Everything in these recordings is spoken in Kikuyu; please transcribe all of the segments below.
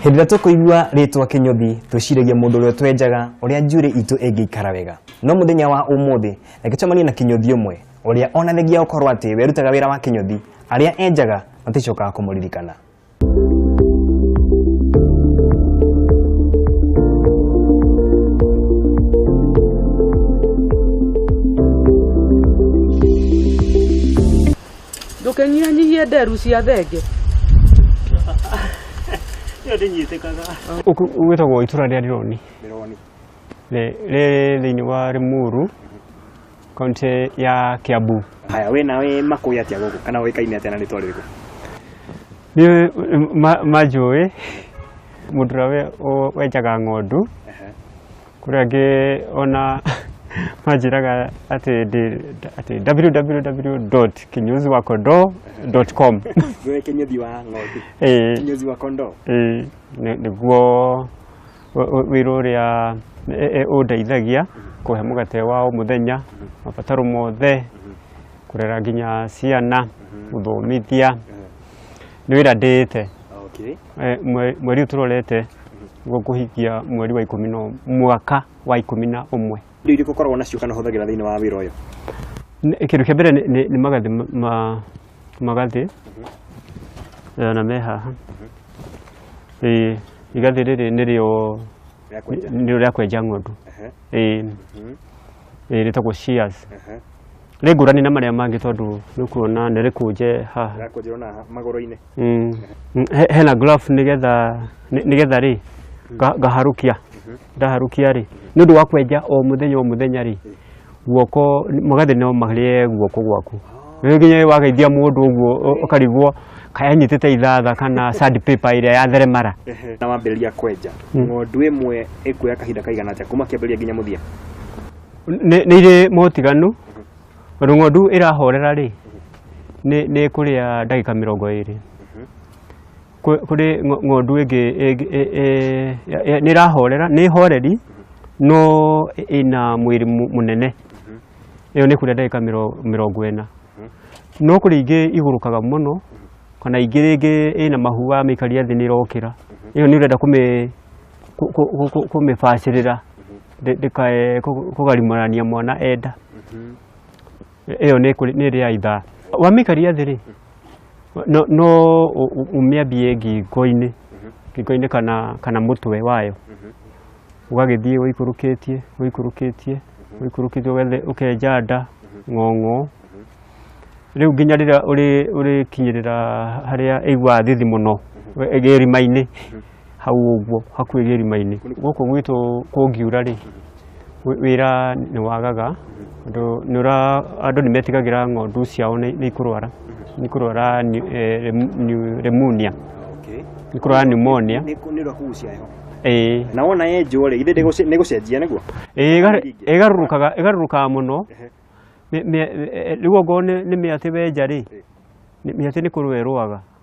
Hĩndĩ ĩrĩa tũkũigua rĩtwa kĩnyũthi twĩciragia mũndũ ũrĩa twenjaga ũrĩa njuĩrĩ itũ ĩngĩikara wega no mũthenya wa ũmũthĩ reke tũcemanie na kĩnyũthi ũmwe ũrĩa onanagia gũkorwo atĩ we arutaga wĩra wa kĩnyũthi arĩa enjaga maticokaga kũmũririkana ndũkĩnyihanyihie nderu cia thenge ĩyo ndĩnyitĩkaga Ũkũ gwĩtagwo itũra rĩa Rironi ndĩroni rĩ rĩ thĩinĩ wa Limuru kaunti ya Kiambu. haya wĩ na wĩ makũĩ atĩa gũkũ kana ũĩkaine atĩa na rĩtwa rĩrĩkũ Nĩ ma- manjũĩ mũndũ ũrĩa we- ũ- wenjaga ng'ondu Ehe. Kũrĩ angĩ ona manjĩraga atĩ ndĩ atĩ www.kinyoziwakondo.com Wewe kinyozi wa ng'ondu. Eh, Kinyozi wa kondoo. eh, nĩ- nĩguo wĩ- wĩ- wĩra ũrĩa eh, eh, ũndeithagia kũhe mũgate wa o mũthenya mabataro mothe kũrera nginya ciana gũthomithia nĩ wĩra ndĩĩte Okay. Eh, mwe- mweri ũyũ tũrorete gũkũhikia mweri wa ikũmi na mwaka wa ikũmi na ũmwe indo irĩkũ ũkoragwo nacio kana ũhũthagĩra thĩinĩ wa wĩra ũyũ Nĩ- kĩndũ kĩa mbere nĩ- nĩ nĩ magathĩ ma- ma- magathĩ Eh, na me haha Ĩĩ, igathĩ rĩrĩ nĩrĩo Rĩa kwenja. nĩrĩo rĩa kwenja ng'ondu Ehe, Ĩĩ, mhm, ĩĩ, rĩtagwo shears ehe. rĩ ngũrani na marĩa mangĩ tondũ nĩ kuona nĩ rĩkũnje haha Rĩa kwenjerwo na magũrũ-inĩ Mm. Mm, he- hena graph nigetha ni- nigetha rĩ nga- ngaharũkia ndaharũkia rĩ nĩ ũndũ wa kwenja o mũthenya o mũthenya rĩ guoko magathĩ no marĩe guoko gwaku rĩu nginya wageithia mũndũ ũguo ũ- ũkarigwo kaya nyitĩte ithatha kana sand paper ĩrĩa ya theremara na wambĩrĩria kwenja Mm. ng'ondu ĩmwe ĩkuoya kahinda kaigana atĩa kuma kĩambĩrĩria nginya mũthia nĩ nĩ irĩ motiganu Tondũ ng'ondu ĩrahorera rĩ, nĩ nĩ ĩkũrĩa ndagĩka mĩrongo ĩrĩ. Kwĩ- Kũrĩ ng'o- ng'ondu ĩngĩ ĩngĩ- ĩ- ĩ- ya- ya- nĩ ĩrahorera, nĩ horeri no ĩ- ĩna mwĩrĩ mũ- mũnene. Ĩyo nĩ ĩkũrĩa ndagĩka mĩro- mĩrongo ĩna. No kũrĩ ingĩ igũrũkaga mũno kana ingĩ rĩngĩ ĩna mahu wamĩikaria thĩ nĩ ĩrokĩra. Ĩyo nĩ ũrenda kũmĩ- kũ- kũ- kũ- kũmĩbacĩrĩra. ndĩ- ndĩkae kũ- kũgarimarania mwana enda ĩyo nĩ kũrĩ- nĩ ĩrĩa ithaa wamĩkaria thĩ rĩ no, no ũ- ũ- ũmĩambie ngingo-inĩ ngingo-inĩ kana, kana mũtwe wayo ũgagĩthiĩ ũikũrũkĩtie ũikũrũkĩtie ũikũrũkĩtie ũgethe- ũkenja nda ng'ong'o rĩu nginya rĩrĩa ũrĩ- ũrĩkinyĩrĩra harĩa ĩiguaga thithi mũno ĩgĩrima-inĩ hau ũguo hakuhĩ gĩrima-inĩ gũkũ gwitũ kũngiura rĩ wĩ- wĩra nĩ wagaga tondũ nĩ ũra andũ nĩ metigagĩra ng'ondu ciao nĩ nĩ ikũrwara nĩ ikũrwara ni- eh, rem- ni- pneumonia nĩ ikũrwara pneumonia nä å rä kugucia heho ĩĩ na wona ye njå rä ithä nä gå cenjia nä guo ĩgarũrũkaga ĩgarũrũkaga mũno Mĩ- mĩ- eh, rĩu ongorwo nĩ nĩ mĩatĩ wenja rĩ nĩ- mĩatĩ nĩ kũrũa ĩrũaga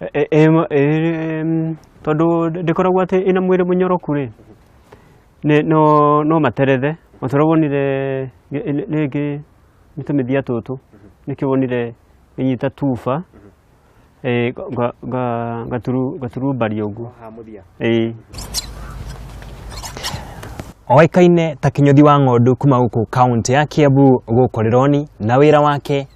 E- e- em- em, tondũ ndĩkoragwo atĩ ĩna mwĩrĩ mũnyoroku rĩ nĩ- no no materethe o ta ũrĩa wonire gĩ- rĩ- rĩngĩ nĩ tũmĩthia tũtũ nĩkĩo wonire ĩnyita tuba eh, nga- nga- gaturu- gaturumbaria ũguo ha mũthia ĩĩ oĩkaine ta kĩnyũthi wa ng'ondu kuma gũkũ kaunti ya kiambu gũkũ rĩroni na wĩra wake